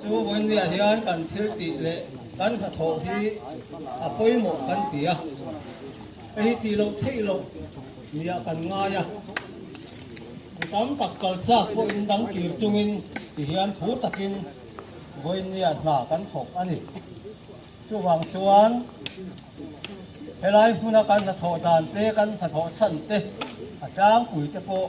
Chu vawinia hian kan thil tih leh kan hnathawh hi a pawimawh kan ti a, ka hi ti loh theih loh nia kan ngai a. Mi tam tak kal chak pawh in dang kir chungin ti hian thu takin vawinia hna kan thawk a ni. Chuvang chuan helai hmuna kan hnathawh dan te kan hnathawh chhan te a tlangpui te pawh,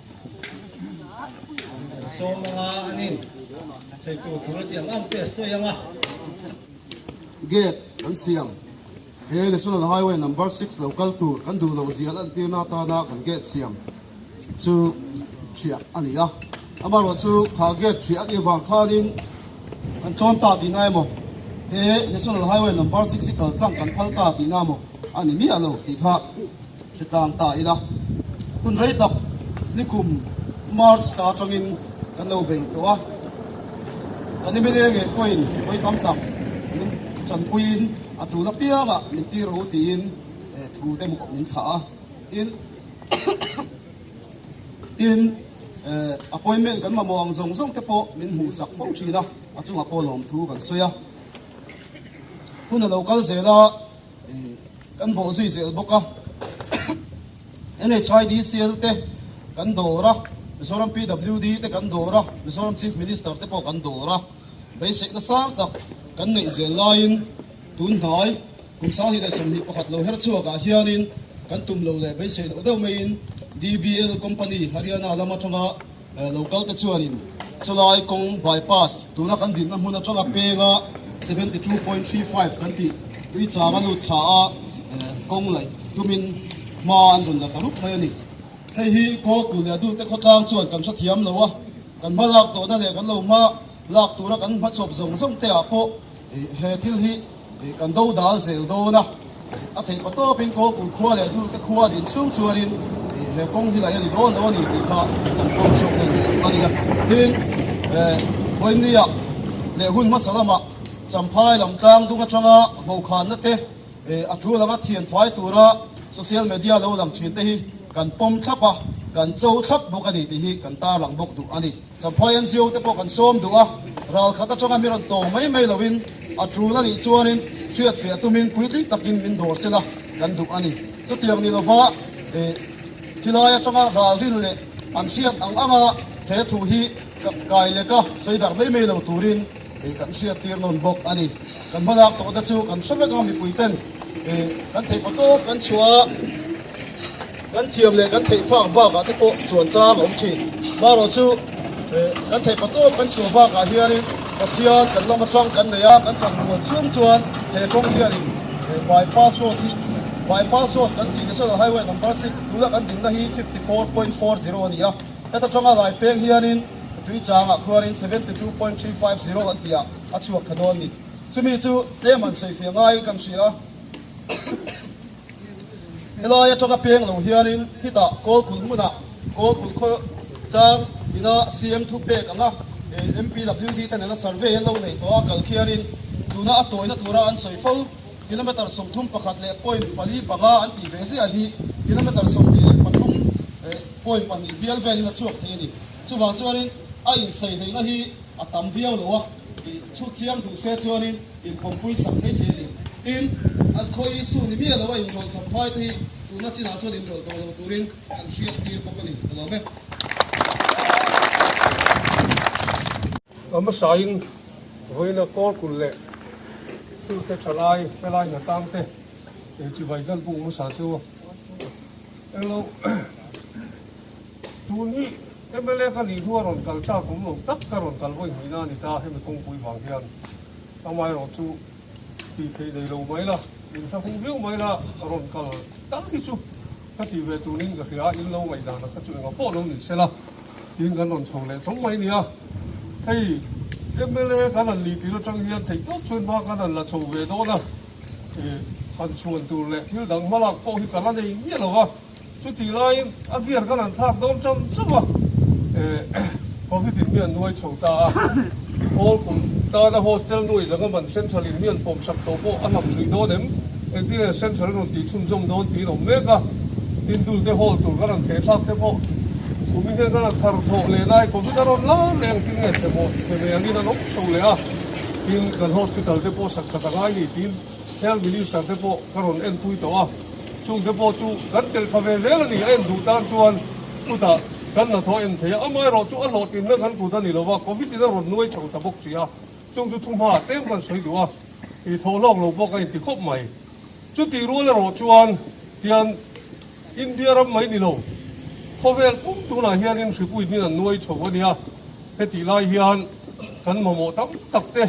Sawm anga a ni. Theitu tur a ti ang ang te a sawi ang a. Gate kan siam. He National Highway Number Six lo kal tur kan duh loh zia lantirna atana kan gate siam chu hria a ni a. Amaherawh chu kha gate hria anih avang khanin kan chawn ta tih nai maw, he National Highway Number Six hi kaltlang kan phal ta tih na maw a ni miah lo tih kha Hretlang ta ila, hun rei tak nikum March ta atangin kan lo bei tawh a, kan i meleng leh pawhin vawi tam tak min chanpuiin a tul apianga min ti ro tiin thu te maw min thah a, tin tin appointment kan mamawh ang zawng zawng te pawh min hmuhsak fo thin a, a chunga pawh lawm thu kan sawi a, hun a lo kal zel a. Kan bawh zui zel bawk a, NHIDCL te kan dawr a, Mizoram PWD te kan dawr a, Mizoram Chief Minister te pawh kan dawr a, beiseihna sang tak kan neih zel laiin tun hnai kum sang hi leh sawmhnih pakhat lo her chhuak ah hianin kan tum lo leh beiseihloh deuh maiin DBL Company Haryana lam atanga Lo kal te chuanin Salai kawng bypass tuna kan dinna hmun atanga penga seventy two point three five kan tih tui chang a lut thla a, kawng laih tumin hma an rawn la ta rup mai a ni. Hei hi Kawlkul leh a dulte khawtlang chuan kan hre thiam lo a, kan hma lak tawhna leh kan lo hma lak tura kan hma chawp zawng zawngte ah pawh he thil hi Kan do dal zel dawn a, a theih paw tawpin kawngpui khua leh dulte khua din chhung chuanin he kawng hi laih a ni dawn lo a nih tih kha kan phawng chhuak dawn tawh a nia. Tin, Vawinia leh hun hmasa lamah Champhai lam Tlangdung atanga vawkhanna te, a ṭu langa thian fai tura social media lo lang ṭhinte hi kan pawm thlap a, kan cho thlap bawk a ni tih hi kan tarlang bawk duh a ni. Kan phai NGO te pawh kan sawm duh a, ral khat atanga mi rawn tawng mai mai lo in a tul a nih chuan in hriatfiah tumin puitling tak in min dawr sila kan duh a ni. Chutiang ni lova eh thi lai atanga ralrin leh an hriat ang anga he thu hi kai leka sawi darh mai mai lo turin, ih kan hriat tir nawn bawk a ni, kan hma lak tawh te chu kan hre vek a, mipui ten ih kan theih pha tawp kan chhuah a, kan thiam leh kan theih phak bak ah te pawh chuan chang a awm thin, marawh chu ih kan theih pha tawp kan chhuah bak ah hian in Pathian kan lawm atang kan nei a, kan kan ruah chhung chuan he kawng hian in ih Bypass Road hi Bypass Road kan tih National Highway Number six tuna kan dinna hi fifty four point four zero a ni a, heta tanga Lai Peng hian in. Tui changah khuarin seventy two point three five zero a tia a chhuak thla dawn a ni. Chumi chu tlem han sawi fiah ngaiin kan hria a. Helai a tanga peng lo hianin khitah Kawlkulh hmunah Kawlkulh khaw tlang ina siam thu pek anga MPWD te nena survey an lo nei tawh a kal khianin tuna a tawina tura an sawi fo. Kilometre sawmthum pakhat leh point pali panga an tih ve ziah hi kilometre sawmhnih leh pathum leh point pahnih bial velin a chhuak thei a ni. Chuvang chuanin a inseihlaihna hi a tam viau lo a tih chhutchiang duh se chuanin inpawmpui sak maithei a ni. Tin, an khawi hi su ni miah loa inrawlhchham phaite hi tuna chinah chuan inrawlh tawh lo turin an hriattir bawk a ni. Ka duang e. A hmasain vawiina kawlkulh leh tute thalai helai hna tangte ei chibai gan pung hmasa chu englo tun hi mla ka nih hnu a rawn kal chak awm lo tak ka rawn kal vawi hmihna a ni ta hemi kawngpui vang hian amaherawhchu. tih theih nei lo mai la, min hla hung viau mai la, a rawn kal dang hi chu ka tih ve turin ka hria a, in lo ngaih dan a kha chu engah pawh lo ni se la, tiin kan rawn chho leh chawng mai nia, hei mla kan han ni tir atang hian theihtawp chhuan hma kan han la chho ve dawn a, i han chhuan tur leh thil dang hmalak pawh hi ka la nei miah lo va. Chuti laiin a gear khan an phak dawm cham cham a, Covid in hi an nuai chho ta a, Paul kum tana hostel nuai zanga man central in hi an pawm sak tawh pawh a hnam zui dawn em, engtin nge central rawn tih chhun zawm dawn tiin awm mek a, tin dul te hawl tur khan an thehthlak te pawh kum in hian khan an thar thlawh leh lai, Covid a rawn lar leh engtin nge themaw theme angin an awm chho leh a, tin kan hospital te pawh sak khat a ngai ni tiin. Heng militia te pawh ka rawn enpui tawh a, chung te pawh chu kan tel tha ve zel a ni, a en duh tan chuan kutah kan la thaw en thei a, amah erawh chu a hlawhtling na kan kut a ni lova, covid in a rawn nuai chho ta bawk si a, chung chu thu hmaah tlem kan sawi duh a, ih thaw hlawk lo bawk a inti khawp mai. Chutih rual erawh chuan tian India ram mai ni lo, khawvel pum tunah hianin hripuihin an nuai chho a nia, hetih lai hian kan mamawh tam tak te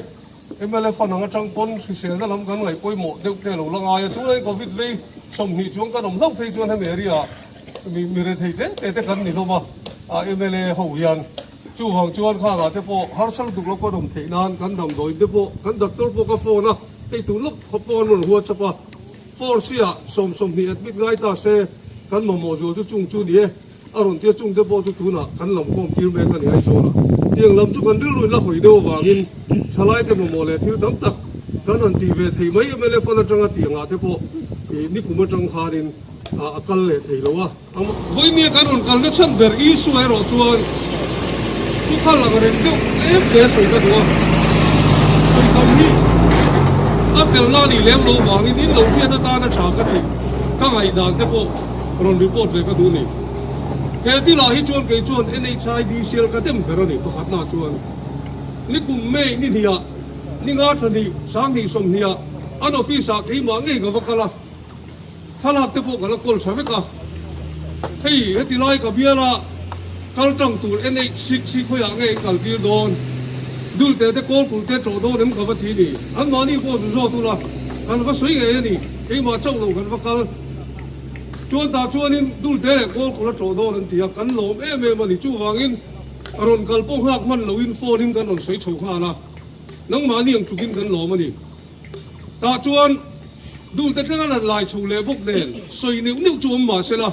Mlf anang atang pawn hriselna lam kan ngaih pawimawh deuh phei a lo la ngai a, tunai Covid vei sawmhnih chuan kan awm hlauh phei chuan hemi area mi mi rethei te te te kan ni hlawm a, a mla ho hian chuvang chuan khangah te pawh harsel duk lo ka rawm theih nan kan damdawi te pawh kan doctor pawh ka phone a hei tur lawk khaw pawh an rawn whatsapp a four siah sawm sawmhnih admit ngai ta se kan mamawh zual chu chung chu ni e. A rawn tia chungte pawh chu tunah kan lam khawm tir mek a ni aizawl a tiang lam chu kan rilru la hawi deuh avangin thalaite mamawh leh thil tam tak kan han ti ve thei mai mlf an atanga tiangah te pawh ih nikum atang khanin a kal leh thei lo a vawinia kan rawn kalna chhan ber isua erawh chuan chu kha lang reng deuh tlem hle sawi ka duh a sawi kam hi a felna a nih lem lo vangin in lo hian atana tha ka tih ka ngaihdan te pawh rawn report ve ka duh ni. He ti lah hi chuan kei chuan NHIDCL ka dem ber a ni, pakhatna chuan ni kum May ni hnih ah, ni ngartha ni sanghnih sawmhnih ah an office ah keimah ngei ka va kal a, thlalak te pawh ka la call tha vek a. Hei heti lai ka bial a, kal tang tur NH6 hi khawiah nge i kal tir dawn, dulte te kawl kulh te tlawh dawn em ka va ti ni. An mahni pawh zu zawt ula kan va sawi ngei a ni, keimah chauh lo kan va kal. Chuan tah chuanin Dulte leh Kawlkhur a chaw dawn an ti a, kan lawm em em a ni. Chuvangin ka rawn kal pawh nghak hman loin phone-in kan rawn sawi chho nghal a, nangmahni ang tlukin kan lawm a ni. Tah chuan Dulte tleng a rawn lai chho leh bawk nen sawi neuh neuh chu awm mah sela,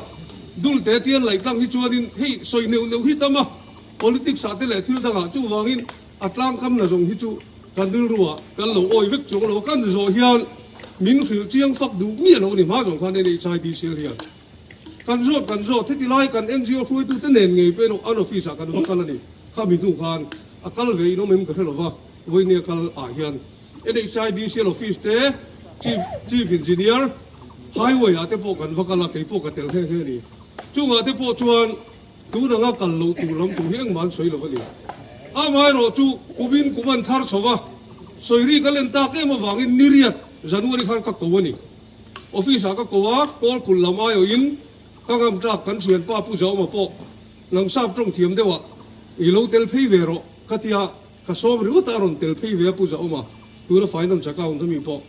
Dulte Tianlaitlang hi chuanin hei sawi neuh neuh hi tam a, politics-ah te leh thil dangah chuvangin A tlangkam na zawng hi chu kan rilru ah kan lo awi vek chuang lo, kan zawh hian min hrilh chiang fak duh miah lo ni hma zawng khan NHIDCL hian kan zawt kan zawt heti lai kan NGO hruaitu te nen ngei pawhin an office ah kan va kal a ni, khami hnu khan a kal ve in awm em ka hre lo va, vawinia kal ah hian NHIDCL office te, chief chief engineer, highway ah te pawh kan va kal a, kei pawh ka tel hle hle a ni, chungah te pawh chuan. Tunlanga kal loh tur lam tur hi engmah an sawi lo a ni. Amah erawh chu kumin kum an thar chho va, sawi ri kal en tak em avangin niriat January khan ka ko a ni. Office ah ka ko a, Kawl kulh lam aiawh in ka ngam tak kan thian pa Pu Zauma pawh nang sap tawng thiam deuh a, I lo tel phei ve rawh ka ti a, ka sawm ringawt a a rawn tel phei ve a Pu Zauma, tuna fai nan chak a awm hemi pawh.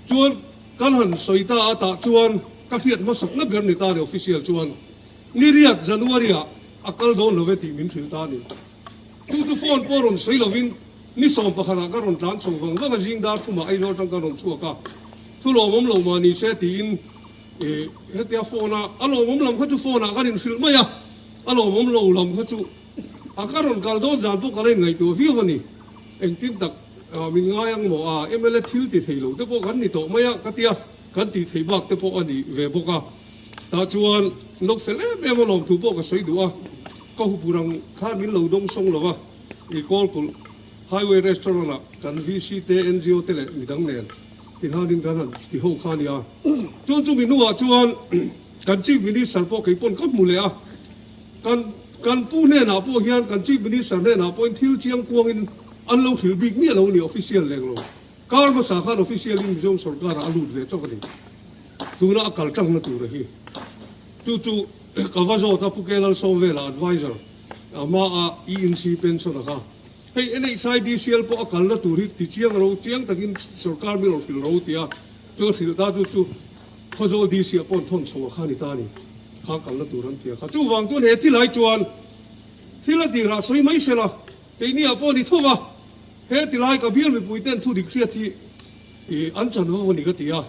Chuan kan han sawi ta atah chuan ka hriat hmasakna ber ni ta a ni official chuan. Niriat January-ah a kal dawn lo e tih min thil ta a ni. Chu chu phone pawh rawn sawi lovin ni sawm pakhatah ka rawn tlan chho vang vang a, zing dar thumah Aizawl tang ka rawn chhuak a, thu lawmawm lo mah ni se tiin hetia phone-a a lawmawm lam kha chu phone-ah kan inhrilh mai a, a lawmawm lo lam kha chu a ka rawn kal dawn zan pawh ka la inngaihtuah viau a ni. Engtin tak min ngai ang maw a, mla thil ti thei lo te pawh kan ni tawh mai a ka ti a. Kan tih theih bak te pawh a nih ve bawk a, tah chuan lo fel em em a lawm thu pawh ka sawi duh a, ka hupu rang khan min lo dawng sawng lo a, i Kawlkulh Highway Restaurant ah kan VC te, NGO te leh midang nen ti hlanin kan han ti ho kha a nia, chuan chumi hnuah chuan kan Chief Minister pawh kei pawn ka hmu leh a, kan kan pu hnenah pawh hian kan Chief Minister hnenah pawhin thil chiang kuangin an lo hrilh bik miah lo a ni, official leng lo. Kar hmasa khan officially Mizoram sawrkarah a lut ve chawk a ni. Tuna a kal tang na tur a hi. Chu chu ka va zawt a, Pu Kyaw Lal Sawm vela advisor a hma a ENC pension a kha. Hei NHIDCL pawh a kalna tur hi ti chiang ro, chiang takin sawrkar min rawn hrilh ro tia, chuan hrilh ta chu chu Khawzawl DC ah pawh an thawn chho a kha a ni ta a ni. Kha kalna tur an ti a kha. Chuvang chuan he thil hai chuan thil a dirah sawi mai se la, Keini ah pawh ni thung a, he ti lai ka bial mipui ten thu dik hriat hi ih an chan ho a ni ka ti a,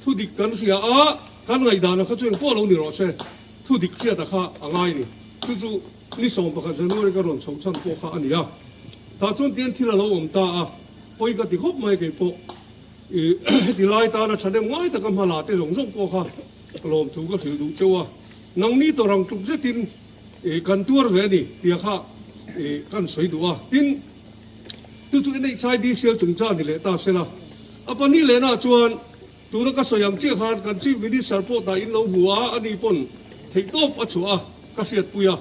thu dik kan hria a, kan ngaihdan a kha chu eng pawh lo ni rawh se, thu dik hriat a kha a ngai ni, chu chu ni sawm pakhat January ka rawn chho chhan pawh kha a ni a, tah chuan tian thil a lo awm ta a, pawi ka ti khawp mai kei pawh ih heti lai tana tha dem ngai taka hma la te zawng zawng pawh kha lawm thu ka hrilh duh cheu a, nangni tawrang tluk zet in I kan tuar ve a ni tia kha i kan sawi duh a, tin chu chu i neih chai DCL chung chang ni leh ta se la, a pahnih leh na chuan tura ka sawi ang chiah khan kan Chief Minister pawh ta in lo hmu a, a ni pawn theih tawp a chhuah a, ka hriat pui a.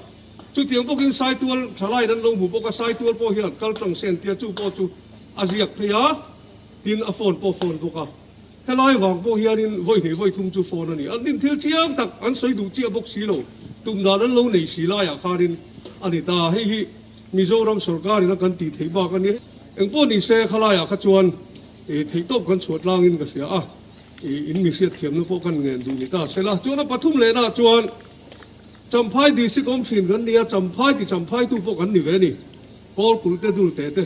Chu tiang bawk in Saitual tha laiin an lo hmu bawk a, Saitual pawh hian kal tang sen tia chu pawh chu a ziak phei a, tin a phone pawh phone bawk a. Helai vang pawh hianin vawi hneh vawi thum chu phone a ni. An din thil chiang tak an sawi duh chiah bawk si lo. Tum dan an lo nei si laiah khanin a ni ta. Hei hi Mizoram sawrkarin a kan tih theih bak a ni. Engpawh ni se kha laiah kha chuan i theihtawp kan chhuah tlangin ka hria a, i in mi hriatthiamna pawh kan ngen duh ni ta se la. Chuan a pathum lehnaah chuan Champhai District awm thin kan nia, Champhai ti Champhaitu pawh kan ni ve ni. Kawlkulh te dul teh te.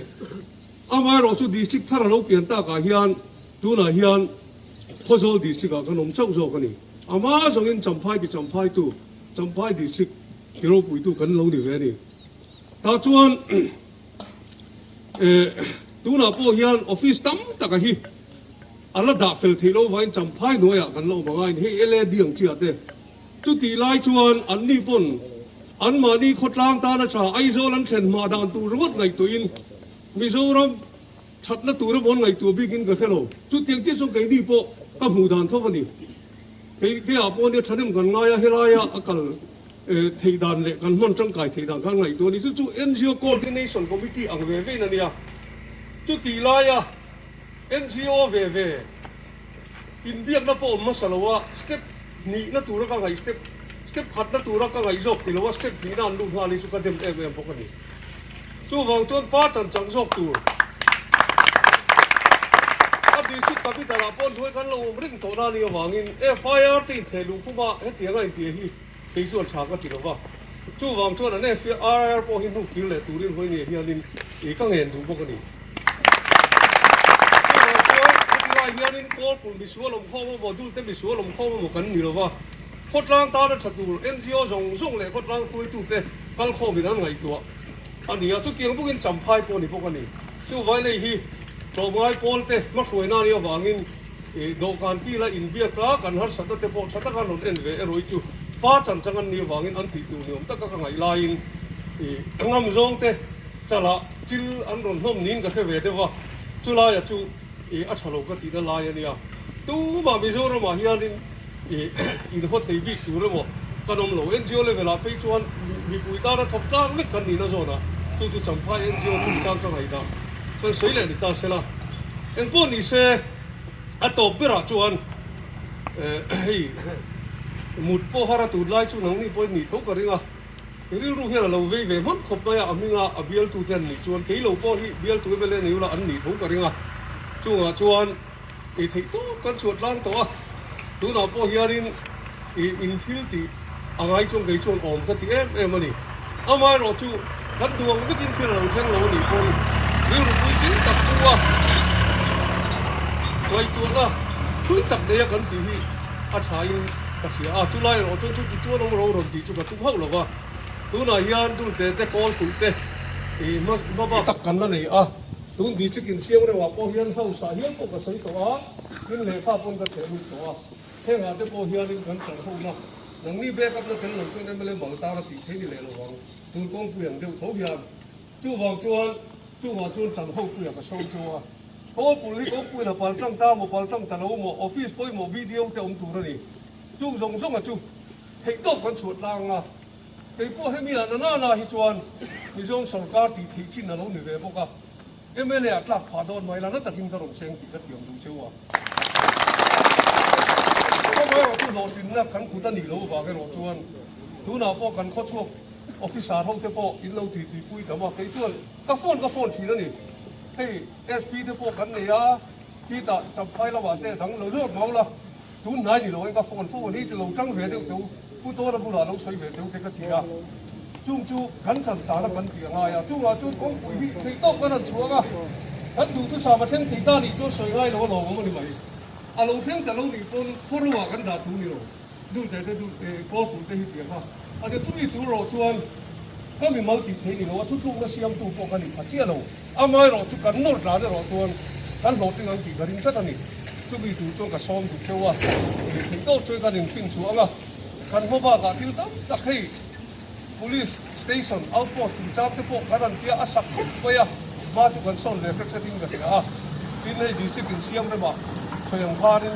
Amaherawhchu District thar a lo pian takah hian Tunah hian Phawzawl District-ah kan awm chauh zawk a ni. Ama zawngin Champhai ti Champhaitutu, Champhai District ti ropuitu kan lo ni ve a ni. Tah chuan eh, tunah pawh hian office tam taka hi a la dah fel theih lo vain Champhai hnuaiah kan la awm angain hei LAB ang chiah te. Chutih lai chuan anni pawn anmahni khawtlang tan atha Aizawl an thlen hmah dan tur ringawt ngaihtuahin Mizoram Thatna tura bawn ngaihtuah bikin ka hre lo. Chutiang chiah chuan kei mi pawh ka hmuh dan tho a ni. Kei kei ah pawh ania thahnem kan ngai a, helaia a kal theih dan leh kan hman tangkai theih dan khan a ngaihtuah a ni. Chu chu NGO Coordination Committee ang ve vein a nia. Chutih laia NGO ve ve. Inbiakna pawh awm hmasa lo a, step hnihna tura ka ngaih, step step khatna tura ka ngaih zawk ti lo a, step hnihna an lut nghal hi chu ka dem em em bawk a ni. Chuvang chuan pa chanchang zawk tur a district capital ah pawh hnuai kan lo awm ring tawh na nih avangin FIR te intheh luh khuma hetianga inti a hi. Kei chuan tha ka ti lo va. Chuvang chuan an FIR pawh hi hnuk kir leh turin hawi nge hianin ih ka ngen duh bawk a ni. Chuvang chuan heti lai hianin Kawlpur Misual lawmkhawm emaw Dulte Misual lawmkhawm emaw kan ni lo va, khawtlang tana tha tur NGO zawng zawng leh khawtlang hruaitute kal khawmin an ngaihtuah a ni a. Chutiang bukin champhai pawh a ni bawk a ni. Chu vailei hi tlawmngai pawlte hmahruaina nih avangin Ih, dawhkan ti ila inbiak a, kan harsatna te pawh tha taka an rawn en ve erawih chu. Pa chanchan an nih avangin an tih tur ni awm taka ka ngaih laiin, ih, a ngam zawngte chalah chil an rawn hnawm niin ka hre ve deuh a, chulaia chu, ih, a tha lo ka tihna lai a nia. Tumah Mizoramah hianin. I inhaw thei bik tur emaw kan awm lo. NGO level ah phei chuan mipui tana thawk tlak vek kan nihna zawnah chu chu Champhai NGO chungchang ka ngaihdah kan sawi leh ni ta sela, engpawh nise a tawp berah chuan hei mut pawh har a tut lai chu nangni pawhin ni tho ka ring a. I rilru hian a lo vei ve hman khawp mai a, a hminga a bialtute an nih chuan keilo pawh hi bialtute vel hian eng ula an ni tho ka ring a. Chungah chuan. ih theih tawp kan chhuah tlang tawh a, tunah pawh hianin ih in thil tih a ngai chuang kei chuan awm ka ti em em a ni. Amaherawh chu kan duang mitin thil a lo thleng lo a nih pawn rilru puitling tak bu a ngaihtuahna phui tak neia kan tih hi a thain ka hria a, chulai erawh chuan chu tichuan awm lo rawn tih chu ka tum hauh lo va, tunah hian dultete, kawlpui te ih hma hma bak tak kan la nei a. Tun ti chik in siam reuhah pawh hian house ah hian pawh ka sawi tawh a, tin lehkha pawn ka theh lut tawh a, heng ah te pawh hian in kan chal home a, nangni backup na tel lo chuan mla bang tar a tih theih ni leh lo ang, tun kawngpui ang deuh tho hian. Chuvang chuan chungah chuan chal ho puia ka sawi cho a, Paul pul hi kawngpui la pal tang ta maw, pal tang ta lo maw, office pawimawh video te awm tur a ni, chung zawng zawng a chu theih tawp kan chhuah tlang a. Keipawh hemi ah na nana hi chuan Mizoram sawrkar tih theih chin alo ni ve bawk a, mla ah tlak phah dawn mai la na takin ka rawn cheng tih ka thiam duh cheu a. Khawva erawh chu hlawhtlinna kan kut a nih loh vang erawh chuan tunah pawh kan khawchhuak officer ho te pawh in lo titi pui dam a, kei chuan ka phone ka phone thin a ni. Hei SP te pawh kan nei a, khi tah Champhai lamah te a dang lo zawt mang la. Tun hnai ni loin ka phone phone hi chu lo tang ve deuh teu, pu Tawna bulah lo sawi ve teu te ka ti a, chung chu kan chan tlan a kan ti a ngai a, chungah chuan kawngpui hi theih tawp ka rawn chhuak a, kan duhthusam a thleng thei ta nih chuan sawi ngai lo a lawmawm a ni mai, a lo thleng ta lo nih pawn khuaro ah kan dah tur ni lo, dulte te duh eh kawl pui te hi ti a kha, a ti chu mi tur erawh chuan ka mimal tih theih ni lo a thutlukna siamtu pawh ka ni pha chiah lo. Amah erawh chu kan nawr tlan erawh chuan kan hlawhtling ang tih ka ring tlat a ni. Chumi tur chuan ka sawm duk cheu a, eng theih deuh chuan kan inhrin chhuah ang a. Kan hma bakah thil tam tak hei Police station, outpost chungchang te pawh kan han tia a sak khawp mai a, hma chu kan sawn ve hret hretin ka hria a. Tin hei district insiam remah chhawi ang kharin.